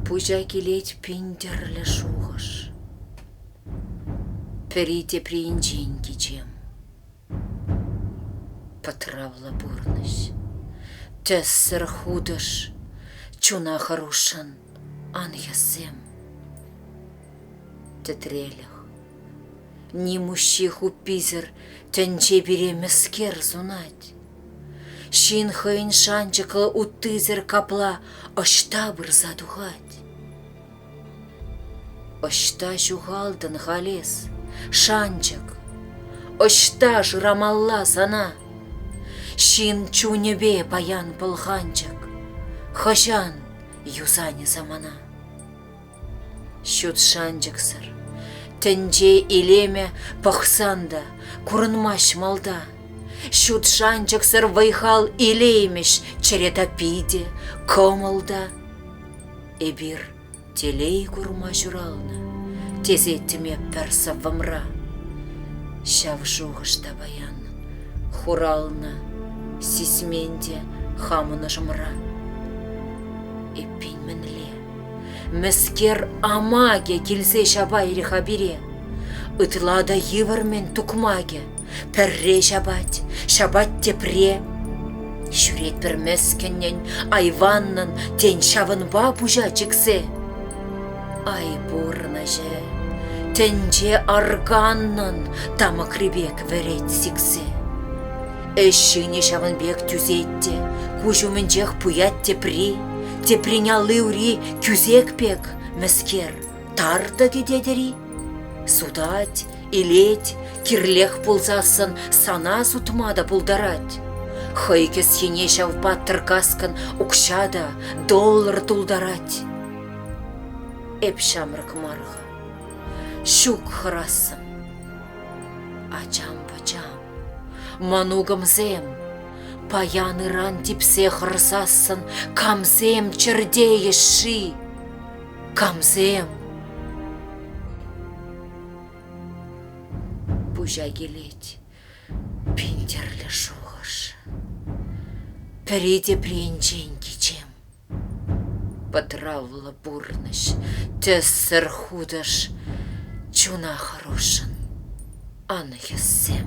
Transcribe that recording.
Пуҫа килет пин тӗрлӗ шухӑш. Пӗри тепринчен кичем. Пӑтравлӑ пурнӑҫ. Тӗссӗр хутӑш. Чуна хӑрушшӑн ан хӗссем. Тӗтрелӗх. Ним уҫҫи хупписӗр тӗнче пире мӗскер сунать. Ҫын хӑйӗн шанчӑклӑ уттисӗр капла ӑҫта пырса тухать? Ӑҫта ҫухалтӑн халь эс, шанчӑк? Ӑҫта шырамалла сана? Ҫын чунӗпе паян пӑлханчӑк, хӑҫан юсанӗ самана? Ҫут шанчӑксӑр тӗнче илемӗ пӑхсан та курӑнмасть малта. Ҫут шанчӑксӑр вӑй-хал илеймӗҫ чӗре таппи те, кӑмӑл та. Эпир телей курма ҫуралнӑ, тесеттӗм эп пӗр сӑввӑмра. Ҫав шухӑш та паян хуралнӑ сисмен те хамӑн ӑшӑмра. Эппин мӗнле? Мӗскер амакӗ килсе ҫапайрӗ-ха пире? Ытла та йывӑр-мӗн тукмакӗ. Пӗрре ҫапать, ҫапать тепре. Ҫӳретпӗр мӗскӗннӗн, айваннӑн, тен ҫавӑнпа пуҫа чиксе. Ай пурнӑҫӗ, тӗнче арканнӑн тамӑкри пек вӗрет сиксе. Ӗҫ ҫынӗ ҫавӑн пек тӳсет те, куҫ умӗнчех пуять тепри. Теприн алли-ури кӳсек пек, мӗскер, тар-тӑ тететӗр-и? Сутать, илет, кирлех пулсассӑн сана сутма та пултарать. Хӑй кӗсйине ҫав паттӑр-каскӑн укҫа та, доллар тултарать. Эп ҫамрӑк мар-ха, ҫук хӑрассӑм. Ачам-пӑчам, мӑнукӑмсем, Паян-ыран типсе хӑрсассӑн Камсем чӗртейӗҫ-ши? Камсем? Пуҫа килет пин тӗрлӗ шухӑш. Пӗри тепринчен кичем. Пӑтравлӑ пурнӑҫ, тӗссӗр хутӑш, Чуна хӑрушшӑн ан хӗссем.